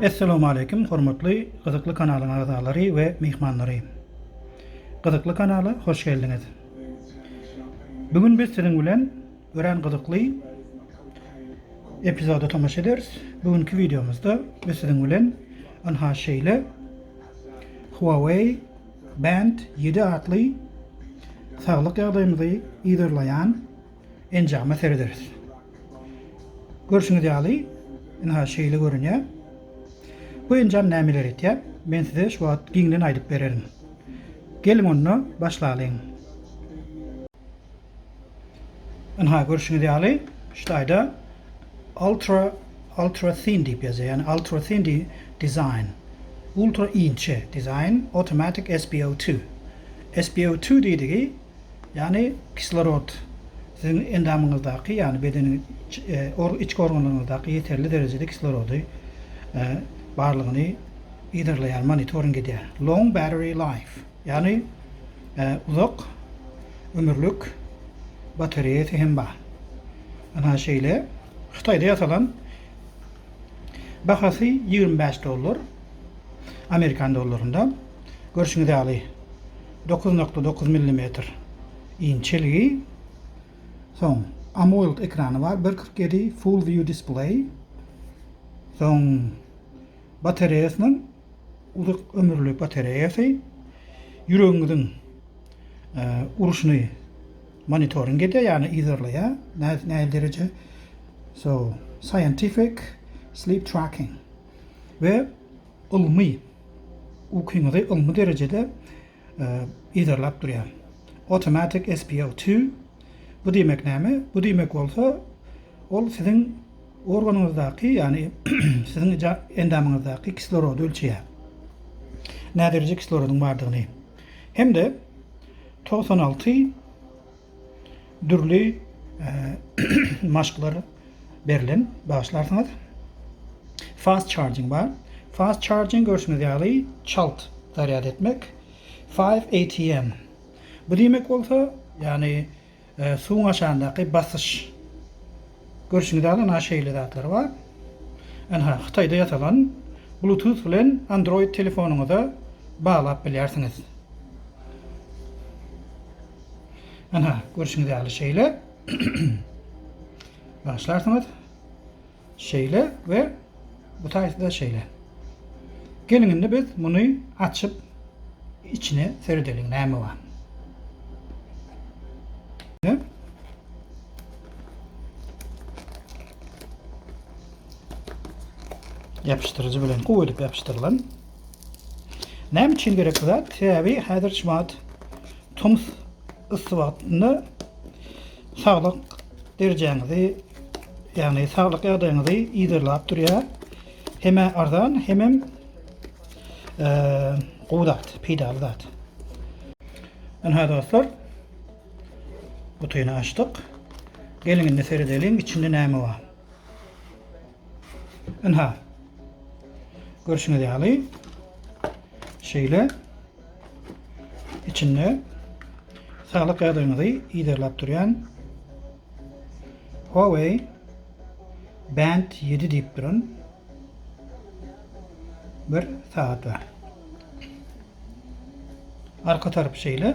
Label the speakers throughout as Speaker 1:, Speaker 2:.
Speaker 1: Essalawmaleýkim hormatly gyzykly kanalyň agzalary we myhmanlary. Gyzykly kanala hoş geldiňiz. Bu gün biz siziň bilen Örän gyzykly epizoda tomaşa ederis. Bu günki wideomyzda biz siziň bilen ynha şeýle Huawei Band 7 atly saglyk ýagdaýymyzy yzarlaýan enjama serederis. Görşüňiz ýaly, ynha şeýle görünýär. Bu enjam nämeleri etýär? Men size şu wagt giňden aýdyp bererin. Geliň onda başlalyň. Ynha görşüňiz ýaly şu taýda ultra ultra thin diýip ýazýar. Ýagny ultra thin di design. Ultra inçe design automatic SPO2. SPO2 diýdigi ýagny kislorod siziň endamyňyzdaky ýagny bedeniň içki organlaryňyzdaky ýeterli derejede kislorody barlygyny yzarlaýar monitoring edýär. Long battery life. Ýagny uzak ömürlik batareýasy hem bar. Ana şeýle Hytaýda ýasalan bahasy ýigrimi bäş dollar amerikan dollarynda. Görşüňiz ýaly dokuz nokta dokuz millimetr inçeligi. Soň AMOLD ekrany bar bir kyrk ýedi full view display. Soň batareýasynyň Uzak ömürli batareýasy ýüregiňiziň uruşyny monitoring edýär, ýagny yzarlaýar, nähili dereje so scientific sleep tracking we ylmy ukyňyzy ylmy derejede yzarlap durýar. Automatic SPO two bu diýmek näme? Bu diýmek bolsa, ol siziň organyňyzdaky, ýagny siziň endamyňyzdaky kislorody ölçeýär. Näderejä kislorodyň bardygyny hem-de togsan alty. Dürli maşklar berlen bagyşlarsyňyz. Fast charging bar. Fast charging görşüňiz ýaly çalt zarýad etmek. 5 ATM. Bu diýmek bolsa, ýagny suwuň aşagyndaky basyş. Görşüňiz ýaly ynha şeýle zatlar bar. Ynha Hytaýda ýasalan Bluetooth bilen Android telefonyňyza baglap bilýärsiňiz. Ana, görşüňiz ýaly şeýle başlarsyňyz. Şeýle we bu taýda şeýle. Geliň indi biz muny açyp içine seredeliň näme bar. Yapıştırıcı bilen gowy edip yapyşdyrylan. Näme üçin gerek bu zat? Sebäbi häzir şu wagt tomus yssy wagtynda saglyk derejäňizi, ýagny saglyk ýagdaýyňyzy yzarlap durýar. Hemä arzan, hemem e, gowy zat, peýdaly zat. Ynha dostlar, gutyny açdyk. Geliň indi seredeliň içinde näme bar. Ynha. Görşüňiz ýaly şeýle içinde saglyk ýagdaýyňyzy yzarlap durýan Huawei Band 7 diýip duran bir sagat bar. Arka tarapy şeýle.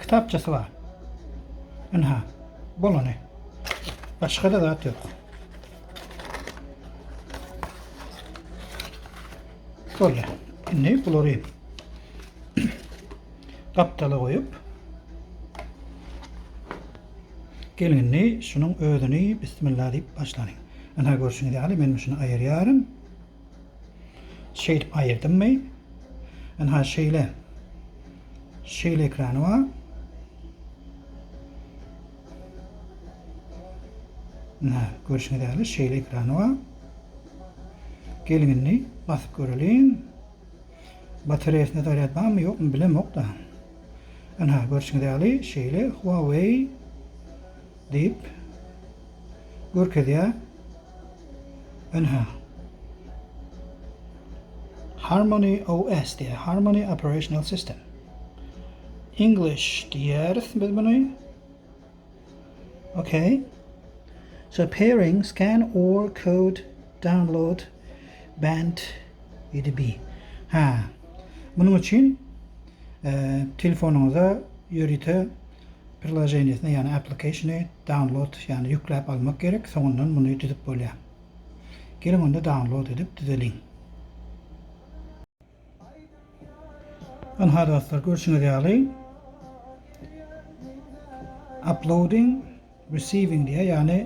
Speaker 1: Kitapçasy bar. Ynha, bolany. Başga-da zat ýok. Boldy. Indi bulary gapdala goýup, Gelin indi şunuň özüni bismillah diýip başlanyň. Ynha görşüňiz ýaly men şuny aýyrýaryn. Şeýdip aýyrdymmy? Ynha şeýle. Şeýle ekrany bar. Ynha, görşüňiz ýaly şeýle ekrany bar. Geliň indi basyp göreliň. Batareýasynda zarýad barmy, ýokmy bilemok-da. Ynha, görşüňiz ýaly şeýle Huawei Diýip görkezýär. Ynha. Harmony OS diýýär. Harmony Operational System. English diýýäris biz muny. Okay. So pairing scan or code download band 7B. Ha. Munuň üçin telefonyňyza ýörite Priloženiýasyny, ýagny applikasyny download, ýagny ýükläp almak gerek, soňundan muny düzüp bolýar. Geliň onda download edip düzeliň. Ynha dostlar görşüňiz ýaly uploading. Receiving diýýär, ýagny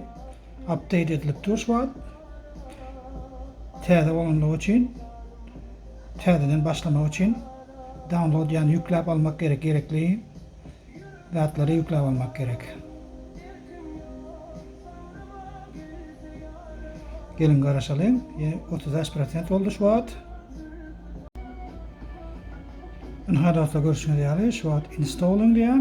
Speaker 1: update edilip dur şu wagt. Täze bolanlygy üçin täzeden başlamak üçin download ýagny ýükläp almak gerek gerekli zatlary ýükläp almak gerek. Geliň garaşalyň. Ýe, 35% boldy şu wagt. Ynha dostlar görşüňiz ýaly şu wagt installing diýýär.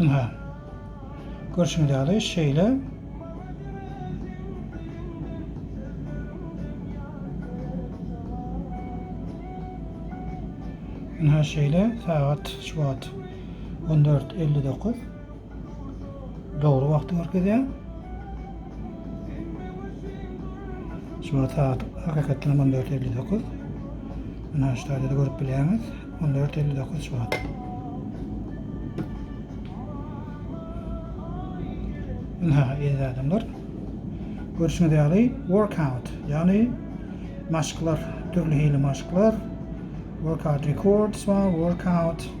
Speaker 1: Ynha, görşüňiz ýaly, şeýle. Ynha, şeýle, sagat şu wagt on dört elli dokuz. Dogry wagty görkezýär. Şu wagt sagat hakykatdan 14.59. Mena şu taýda görüp bilýäňiz. 14.59 şu wagt. Mena eziz adamlar. Görüşüňiz ýaly workout, ýagny maşklar, dürli hili maşklar, workout records we workout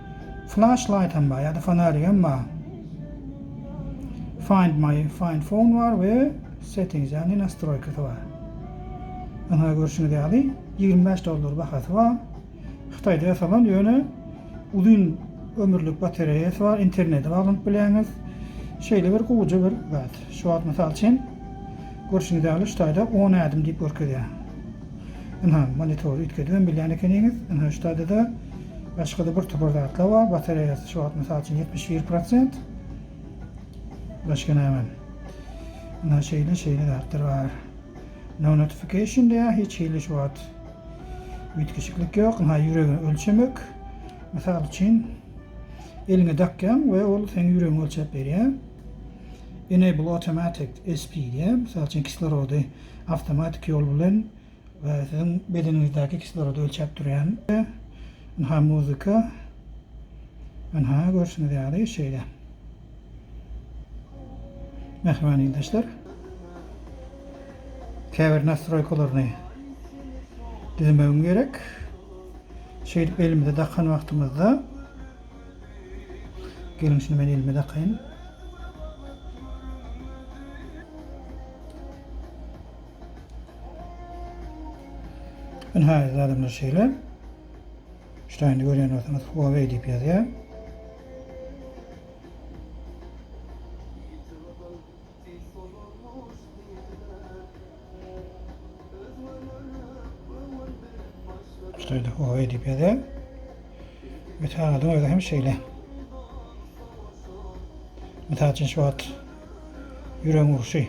Speaker 1: Flash light hem bar ýa-da fonarik hem bar. Find my find phone bar we settings ýagny nastroýkasy bar. Ynha görşüňiz ýaly ýigrimi bäş dollar bahasy bar. Hytaýda ýasalan ýöne uzyn ömürlik batareýasy bar, internete baglanyp bilýäňiz. Şeýle bir gowja bir zat. Şu wagt mysal üçin görşüňiz ýaly şu taýda on ädim diýip görkezýär. Ynha, monitory üýtgedibem bilýän ekeniňiz. Ynha, şu taýda-da başga-da bir topar zatlar bar. Batareýasy şu wagt, mysal üçin, ýetmiş bir prosent. Başga näme? Ynha, şeýle, şeýle zatlar bar. No notification diýýär, hiç hili şu wagt üýtgeşiklik ýok. Ynha, ýüregi ölçemek. Mysal üçin, eliňe dakýaň we ol seň ýüregiňi ölçäp berýär. Enable automatic SP diýýär. Mysal üçin, kislorody awtomatik ýol bilen siziň bedeniňizdäki kislorodu ölçäp durýan. Ynha muzika. Ynha görşüňiz ýaly şeýle. Mähriban ildeşler. Käbir nastroýkalaryny düzmegiň gerek. Şeýdip elimize dakan wagtymyzda Geliň şuny men elime dakaýyn. Ine häzir adamlar şeýle. Ştaýny görýän bolsaňyz Huawei diýip ýazýar. Sen soňurmuş diýdiler. Özgelerem göwün berip başladylar. Şeýle oý edip ýazýan. Wisalyň özi hem şeýle. Mysal üçin şu wagt ýürek urşy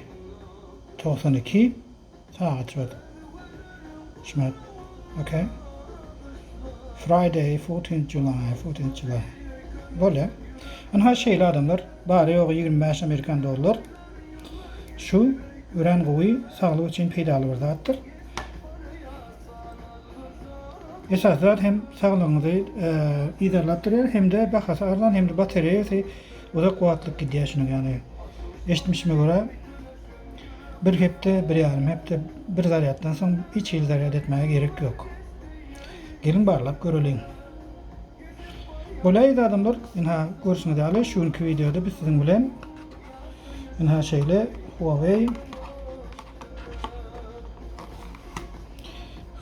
Speaker 1: togsan iki. Sag açyp Şmep ok Friday fourteenth July fourteenth July bolýa ynha şeýle adamlar bary ýogy ýigrimi bäş amerikan dollar şu örän gowy saglyk üçin peýdaly bir zatdyr esasy zat hem saglygyňyzy yzarlap durýar hem-de bahasy arzan hem-de batareýasy uzak wagtlyk gidýär şunuň ýaly eşitmişime görä Bir hepde, bir ýarym hepde bir zarýaddan soň hiç hili zarýad etmäge gerek ýok. Geliň barlap göreliň. Bolaýdy adamlar, ynha görşüňiz ýaly şu günki wideoda biz siziň bilen ynha şeýle Huawei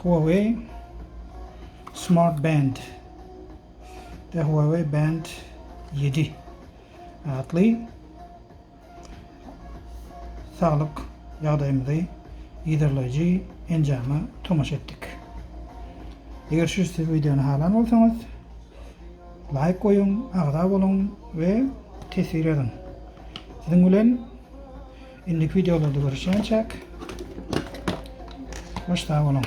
Speaker 1: Huawei Smart Band Huawei Band 7 atly saglyk ýagdaýymyzy yzarlaýjy enjama tomaşa etdik. Eger şu siz wideony halan bolsaňyz, laýk goýuň, agza boluň we teswir ýazyň. Siziň bilen indiki wideolarda görüşýänçäk, hoş sag boluň!